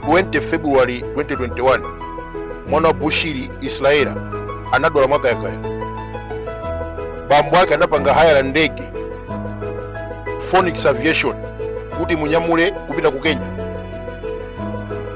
20 february 2021 mwana wa bushiri israella anadwala mwakayakaya bambo ake anapanga hayala ndege ya phoenix aviation kuti imunyamule kupita ku kenya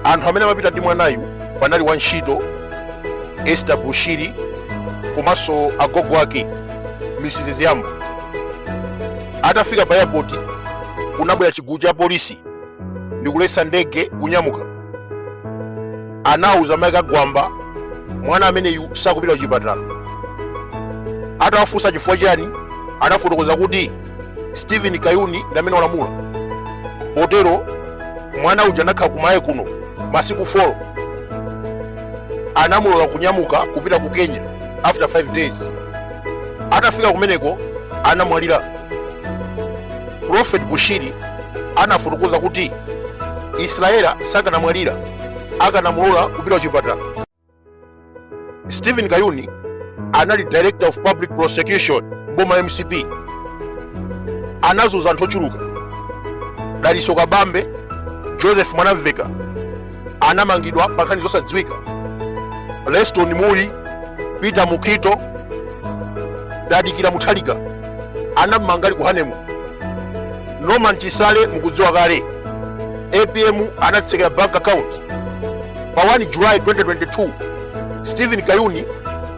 anthu amene amapita ndi mwanayu panali wantchito esther bushiri komanso agogo ake mrs ziyamba atafika pa airport kunabwera chigulu cha polisi ndikuletsa ndege kunyamuka anauza mayi a gwamba mwana ameneyu sakupita kuchipatala atawafunsa chifukwa chani anafotokoza kuti stephen kayuni ndi amene walamula potero mwana uja anakhala ku malawi kuno masiku 4 anamulola kunyamuka kupita ku kenya after 5 days atafika kumeneko anamwalira prophet bushiri anafotokoza kuti israella sakanamwalira akanamulola kupita kuchipatala stephen kayuni anali director of public prosecution boma la mcp anazuza anthu ochuluka dalitso kabambe joseph mwanamvekha anamangidwa pa nkhani zosadziwika leston mulli peter mukhito tadikira mutharika anamumanga ali ku honeymoon norman chisale mukudziwa kale apm anamutsekera bank account pa 1 july 2022 stephen kayuni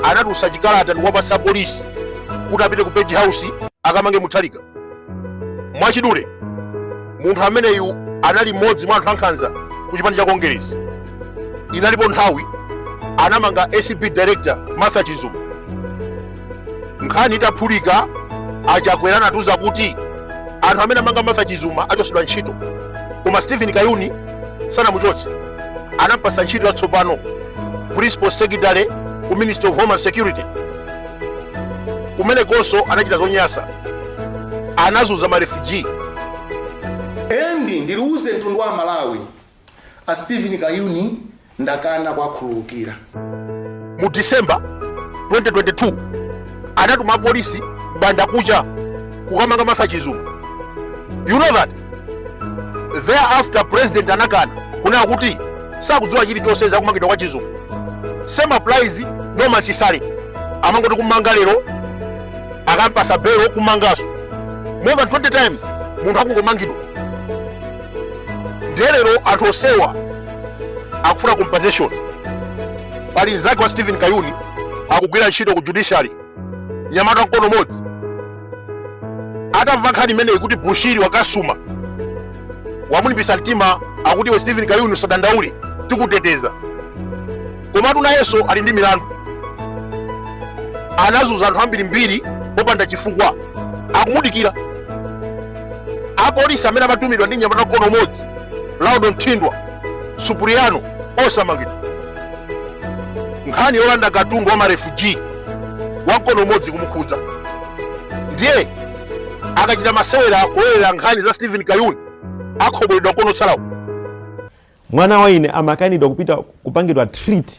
anatulutsa chikalata ndikuwapatsa polisi kuti apite ku page house akamange mutharika mwachidule munthu ameneyu anali mmodzi mwa anthu ankhanza ku chipani cha kongeresi inalipo nthawi anamanga acb director martha chizuma nkhani itaphulika achakwera anatiuza kuti anthu amene anamanga martha chizuma achotsedwa ntchito koma stephen kayuni sanamuchotse anampatsa ntchito yatsopano principal secretary ku ministry of homeland security kumenekonso anachita zonyansa anazuza marefugee and ndiwuze mtundu wa amalawi a stephen kayuni ndakana kwakhululukira mu december 2022 anatuma apolisi m'bandakucha kukamanga martha chizuma you know that thereafter president anakana kunena kuti sakudziwa chilichonse za kumangidwa kwa chizungu same applies norman chisale amangoti kummanga lero akampatsa belo kummanganso more than 20 times munthu akungomangidwa ndiye lero anthu onsewa akufuna compensation pali mzake wa stephen kayuni akugwira ntchito ku judiciary nyamata mkono umodzi atamva nkhani imeneyi kuti bushiri wakasuma wamulimbisa mtima akuti iwe stephen kayuni usadandaule tikuteteza komatu nayenso ali ndi milandu anazunza anthu ambirimbiri popanda chifukwa akumudikira apolisi amene amatumidwa ndi nyamata mkono umodzi laudo mthindwa supriano osamangidwa nkhani yolanda katundu wa marefugee wamkono umodzi kumukhudza ndiye akachita masewera kulowerera nkhani za stephen kayuni akhoboledwa mkono otsalawo mwana wa ine amakanidwa kupita kupangidwa treat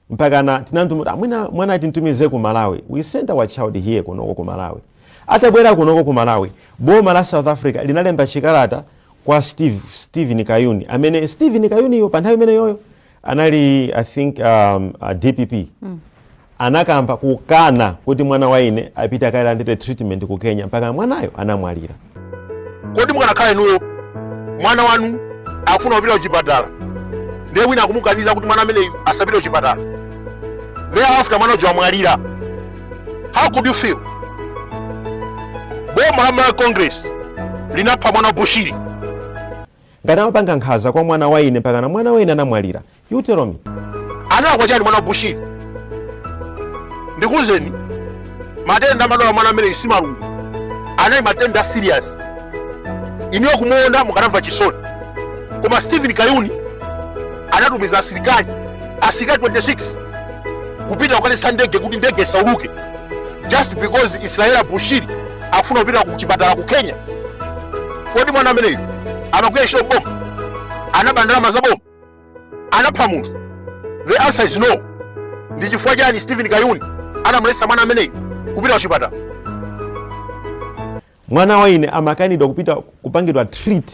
mpakana tinati mwina mwana timtumize ku malawi we sent our child here kunoko ku malawi atabwera kunoko ku malawi boma la south africa linalemba chikalata kwa steve stephen kayuni amene stephen kayuniyo pa nthawi imeneyoyo anali i think um, uh, dpp mm. anakamba kukana kuti mwana wa ine apite akalandire treatment ku kenya mpaka mwanayo anamwalira kodi mukanakhala inuyo mwana wanu akufuna kupita kuchipatala ndiye wina akumukaniza kuti mwana ameneyu asapite kuchipatala thereafter mwana uja wamwalira how could you feel boma la malawi congress linapha mwana wa Bushiri Ngati amapanga nkhaza kwa mwana wa ine mpakana mwana wa ine anamwalira. You tell me. analakwa chani mwana wa bushiri ndikuuzeni matenda amadwala mwana ameneyu si malungu anali matenda serious inuyo kumuona mukanamva chisoni koma stephen kayuni anatumiza asilikali asilikali 26 kupita kukaletsa ndege kuti ndege isauluke just because Israella Bushiri akufuna kupita ku chipatala ku kenya kodi mwana ameneyu amagwira ntchito m'boma anaba ndalama za boma anapha munthu the answer is no ndi chifukwa chani stephen kayuni anamuletsa mwana ameneyu kupita ku chipatala mwana wa ine amakanidwa kupita kupangidwa treat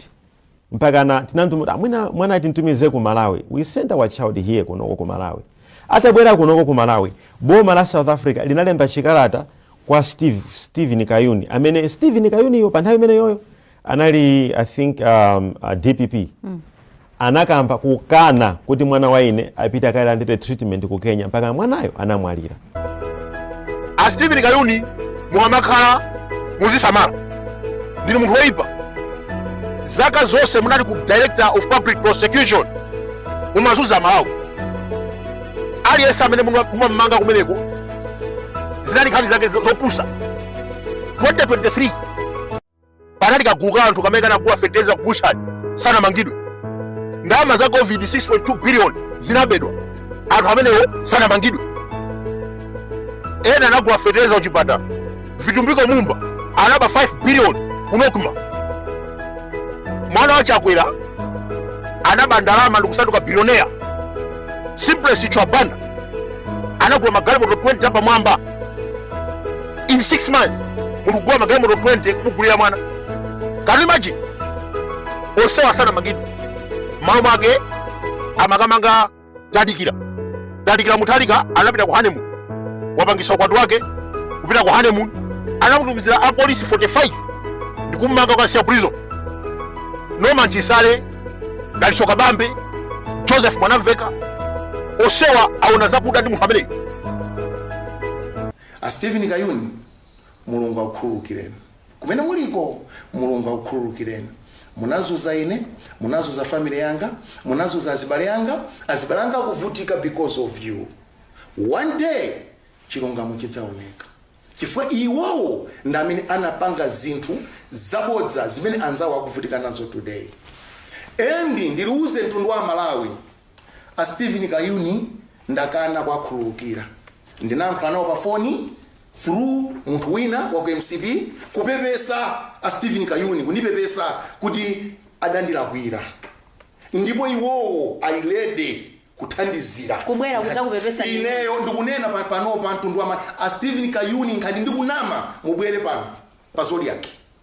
mpakana tinati mwina mwana timtumize ku malawi we sent our child here kunoko ku malawi atabwera kunoko ku malawi boma la south africa linalemba chikalata kwa steve stephen kayuni amene stephen kayuniyo pa nthawi imeneyoyo anali i think um, uh, dpp mm. anakamba kukana kuti mwana wa ine apite akalandire treatment ku kenya mpaka mwanayo anamwalira a stephen kayuni mukamakhala muzisamala ndinu munthu woyipa zaka zonse munali ku director of public prosecution mumazunza amalawi aliyense amene muma- mumamanga kumeneko zinali nkhani zake zo- zopusa 2023 panali kagulu ka anthu kamene kanagula fetereza ku butchery sanamangidwe ndalama za covid 6.2 billion zinabedwa anthu amenewo sanamangidwe ena anagula fetereza kuchipatala vitumbiko mumba anaba 5 billion ku nocma mwana wa chakwera anaba ndalama ndikusanduka bilioneya simplex chithyola banda anagula magalimoto 20 apamwamba in 6 months muli kugula magalimoto 20 kumugulira mwana can you imagine onsewa sanamangidwe m'malo mwake amakamanga tadikira tadikira mutharika anapita ku honeymoon wapangisa ukwati wake kupita ku honeymoon anamutumizira apolisi 45 ndikummanga kukamsiya prison norman chisale dalitso kabambe joseph mwanamveka onsewa aona zakuda ndi munthu ameneyo A Steven Kayuni Mulungu akukhululukireni kumene muliko Mulungu akukhululukireni munazuza ine munazuza family yanga munazuza azibale anga azibale anga akuvutika because of you one day chilungamo chidzaoneka chifukwa iwowo ndi amene anapanga zinthu zabodza zimene anzawo akuvutika nazo today and ndiuze mtundu wa malawi A Steven Kayuni ndakana kuwakhululukira. Ndinayankhula nawo pa foni through munthu wina wa ku mcp kupepesa a Steven Kayuni kundipepesa kuti adandilakwira ndipo iwowo ali ready kuthandizira Kubwera kudzakupepesa. ineyo ndikunena pa- panopa mtundu wama a Steven Kayuni ngati ndikunama mubwere pano pa Zodiak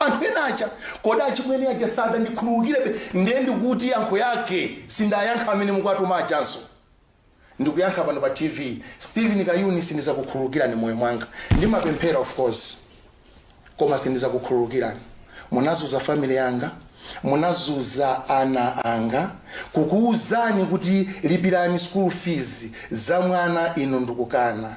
anthu ena aja kodi achimwene aja sadandikhululukirebe ndiye ndikuti yankho yake sindayankha amene mukuwatuma ajanso ndikuyankha pano pa tv steven kayuni sindizakukhululukirani m'moyo mwanga ndimapemphera of course koma sindizakukhululukirani munazuza family yanga munazuza ana anga kukuwuzani kuti lipirani school fees za mwana inu ndikukana